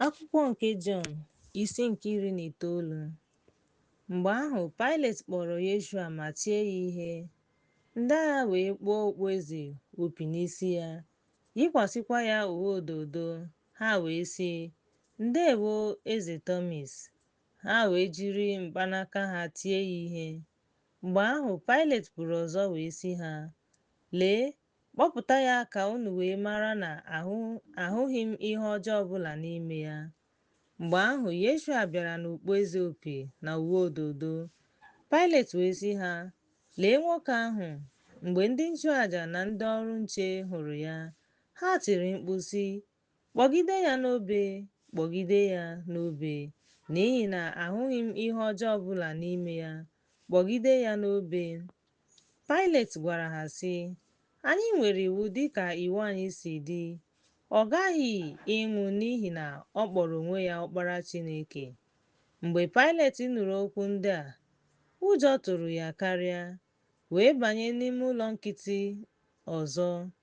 Akwụkwọ nke Jọn isi nke iri na itoolu Mgbe ahụ Pailet kpọrọ Yeshua ma tie ya ihe, ndị agha wee kpụọ okpueze opi n'isi ya, yikwasịkwa ya uwe odo odo, ha wee sị, Ndewo, Eze Tọmis! Ha wee jiri mkpanaka ha tie ya ihe. Mgbe ahụ Pailet pụrụ ọzọ wee sị ha, Lee, Kpọpụta ya ka unu wee mara na ahụghị m ihe ọjọọ ọbụla n'ime ya. Mgbe ahụ, Yeshua bịara n'okpueze opi na uwe odo odo. Pailet wee sị ha, Lee nwoke ahụ! Mgbe ndị nchụaja na ndị ọrụ nche hụrụ ya, ha tiri mkpu sị, Kpọgide ya n'obe, kpọgide ya n'obe, n'ihi na ahụghị m ihe ọjọọ ọbụla n'ime ya, kpọgide ya n'obe. Pailet gwara ha sị, Anyị nwere iwu dịka iwu anyị si dị, Ọ ghaghị ịnwụ n'ihi na ọ kpọrọ onwe ya Ọkpara Chineke. Mgbe Pailet nụrụ okwu ndị a, ụjọ tụrụ ya karịa, wee banye n'ime ụlọ nkịtị ọzọ.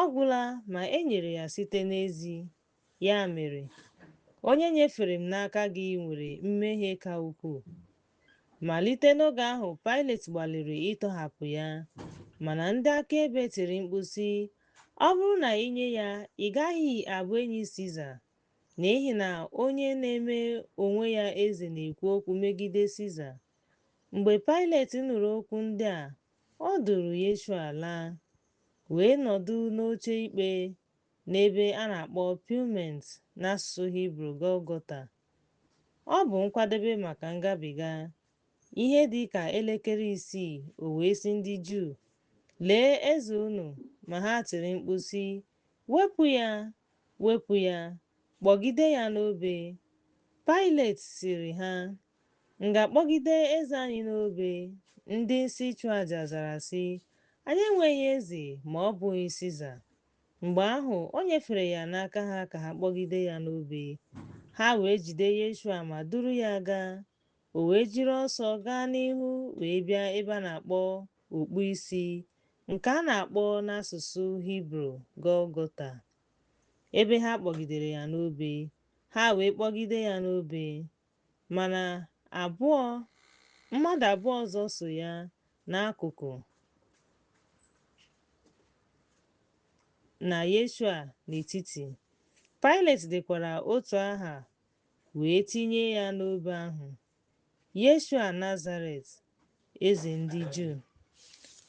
Ọ gwụla ma e nyere ya site n'ezi. Ya mere, onye nyefere m n'aka gị nwere mmehie ka ukwuu. Malite n'oge ahụ Pailet gbalịrị ịtọhapụ ya, mana ndị akaebe tiri mkpu sị, Ọ bụrụ na i nye ya, ị gaghị abụ enyi Siza, n'ihi na onye na-eme onwe ya eze na-ekwu okwu megide Siza. Mgbe Pailet nụrụ okwu ndị a, o duru Yeshua laa. wee nọdụ n'oche ikpe n'ebe a na-akpọ Pavement n'asụsụ Hibru Gọlgọta. Ọ bụ nkwadebe maka ngabiga. Ihe dị ka elekere isii o wee sị ndị Juu, Lee eze unu! Ma ha tiri mkpu sị, Wepụ ya! Wepụ ya! Kpọgide ya n'obe! Pailet sịrị ha, M ga-akpọgide eze anyị n'obe? Ndị isi nchụaja zara sị, Anyị enweghị eze ma ọ bụghị Siza. Mgbe ahụ, o nyefere ya n'aka ha ka ha kpọgide ya n'obe. Ha wee jide Yeshua ma duru ya gaa. O wee jiri ọsọ gaa n'ihu wee bịa ebe a na-akpọ okpu isi, nke a na-akpọ n'asụsụ Hibru Gọlgọta, ebe ha kpọgidere ya n'obe. Ha wee kpọgide ya n'obe. Mana abụọ mmadụ abụọ ọzọ so ya n'akụkụ na Yeshua n'etiti. Pailet dekwara otu aha wee tinye ya n'obe ahụ, Yeshua Nazaret, eze ndị Juu.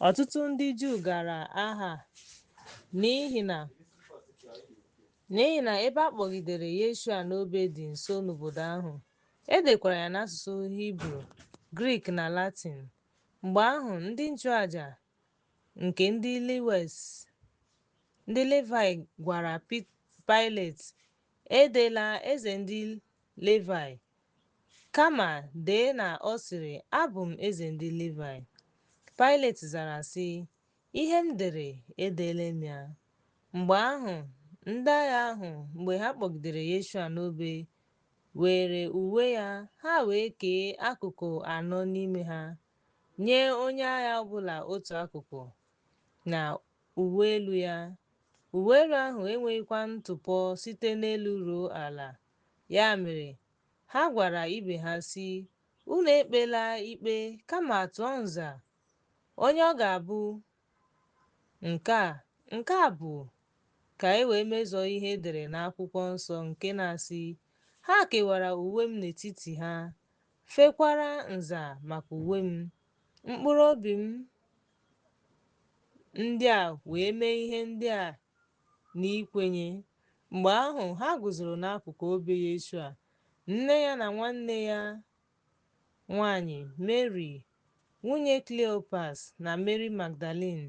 Ọtụtụ ndị Juu gara aha n'ihi na ebe a kpọgidere Yeshua n'obe dị nso n'obodo ahụ, e dekwara ya n'asụsụ Hibru, Grik na Latin. Mgbe ahụ, ndị nchụaja nke ndị Livaị gwara Paịlet, Edela eze ndị Livaị Kama dee na ọ sịrị, Abụ m eze ndị Livaị. Paịlet zara, sị, Ihe m dere, edeela m ya. Mgbe ahụ, ndị agha ahụ, mgbe ha kpọgidere Yeshua n'obe, weere uwe ya, ha wee kee akụkụ anọ n'ime ha, nye onye agha ọ bụla otu akụkụ, na uwe elu ya. Uwe elu ahụ enweghịkwa ntụpọ site n'elu ruo ala. Ya mere, ha gwara ibe ha sị, Unu ekpela ikpe, kama tụọ nza, onye ọ ga-abụ nke a, nke a bụ, ka e wee mezuo ihe e dere n'akwụkwọ nsọ nke na-asị, Ha kewara uwe m n'etiti ha, fekwara nza maka uwe m. Mkpụrụ obi m ndị a wee mee ihe ndị a n'ikwenye. Mgbe ahụ, ha guzoro n'akụkụ obe Yeshua, nne ya na nwanne ya nwanyị Meri, nwunye Kleopas, na Meri Magdalin.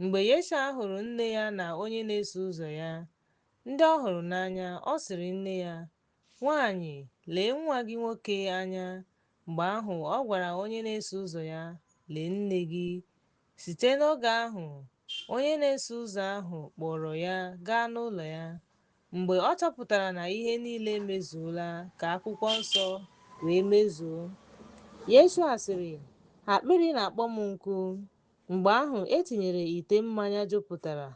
Mgbe Yeshua hụrụ nne ya na onye na-eso ụzọ ya, ndị ọ hụrụ n'anya, ọ sịrị nne ya, Nwanyị, lee nwa gị nwoke anya. Mgbe ahụ ọ gwara onye na-eso ụzọ ya, Lee nne gị. Site n'oge ahụ, onye na-eso ụzọ ahụ kpọọrọ ya gaa n'ụlọ ya. Mgbe ọ chọpụtara na ihe niile emezuola ka akwụkwọ nsọ wee mezuo. Yeshua sịrị, Akpịrị na-akpọ m nkụ. Mgbe ahụ e tinyere ite mmanya jupụtara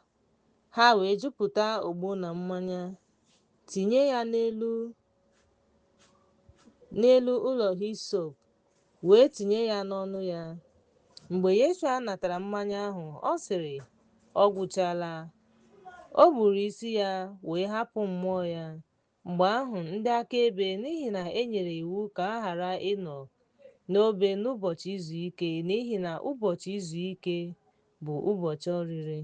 Ha wee jupụta ogbo na mmanya, tinye ya n'elu ụlọ hisop, wee tinye ya n'ọnụ ya. Mgbe Yeshua natara mmanya ahụ, ọ sịrị, Ọ gwụchala. O gburu isi ya wee hapụ mmụọ ya. Mgbe ahụ ndị akaebe, n'ihi na e nyere iwu ka a ghara ịnọ n'obe n'ụbọchị izu ike, n'ihi na ụbọchị izu ike bụ ụbọchị oriri,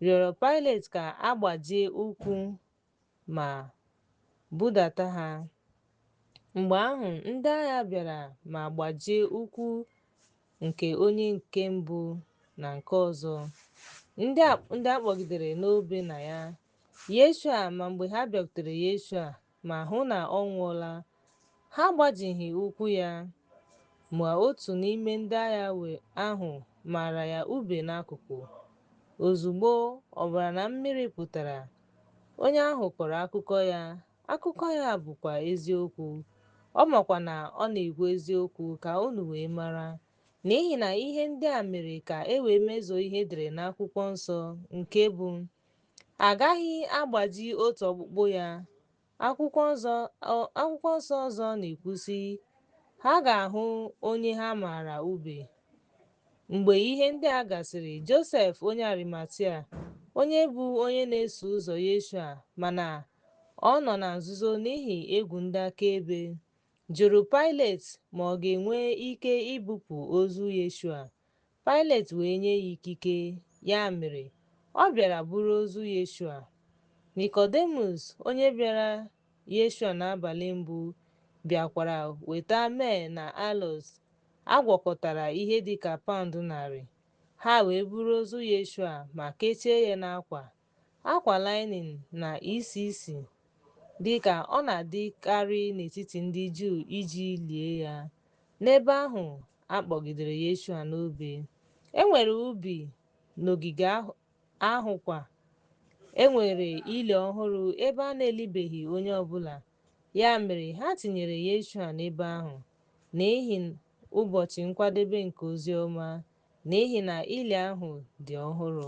rịọrọ Paịlet ka a gbajie ụkwụ ma budata ha. Mgbe ahụ ndị agha bịara ma gbajie ụkwụ nke onye nke mbụ na nke ọzọ, ndị a kpọgidere n'obe na ya Yeshua, ma mgbe ha bịakwutere Yeshua ma hụ na ọ nwụọla, ha agbajighị ụkwụ ya. Ma otu n'ime ndị agha ahụ mara ya ube n'akụkụ. Ozugbo ọbara na mmiri pụtara, onye ahụ kọrọ akụkọ ya, akụkọ ya bụkwa eziokwu, ọ makwa na ọ na-ekwu eziokwu ka unu wee mara, n'ihi na ihe ndị a mere ka e wee mezuo ihe e dere n'akwụkwọ nsọ nke bụ, A gaghị agbaji otu ọkpụkpụ ya. Akwụkwọ nsọ ọzọ na-ekwu sị, ha ga-ahụ onye ha maara ube. Mgbe ihe ndị a gasịrị, Josef onye Arimatia, onye bụ onye na-eso ụzọ Yeshua mana ọ nọ na nzuzo n'ihi egwu ndị akaebe, jụrụ Pailet ma ọ ga-enwe ike ibupụ ozu Yeshua. Pailet wee nye ya ikike, ya mere, ọ bịara buru ozu Yeshua. Nikọdemus, onye bịara Yeshua n'abalị mbụ, bịakwara weta myrrh na aloes a gwakọtara ihe dị ka paụnd narị. Ha wee buru ozu Yeshua ma kechie ya n'akwa, Akwa linin na-esi isi dị ka ọ na-adịkarị n'etiti ndị Juu iji lie ya. N'ebe ahụ a kpọgidere Yeshua n'obe, e nwere ubi n'ogige ahụ kwa. E nwere ili ọhụrụ ebe a na-elibeghị onye ọ bụla, ya mere ha tinyere Yeshua n'ebe ahụ n'ihi ụbọchị nkwadebe nke ozi ọma, n'ihi na ili ahụ dị ọhụrụ.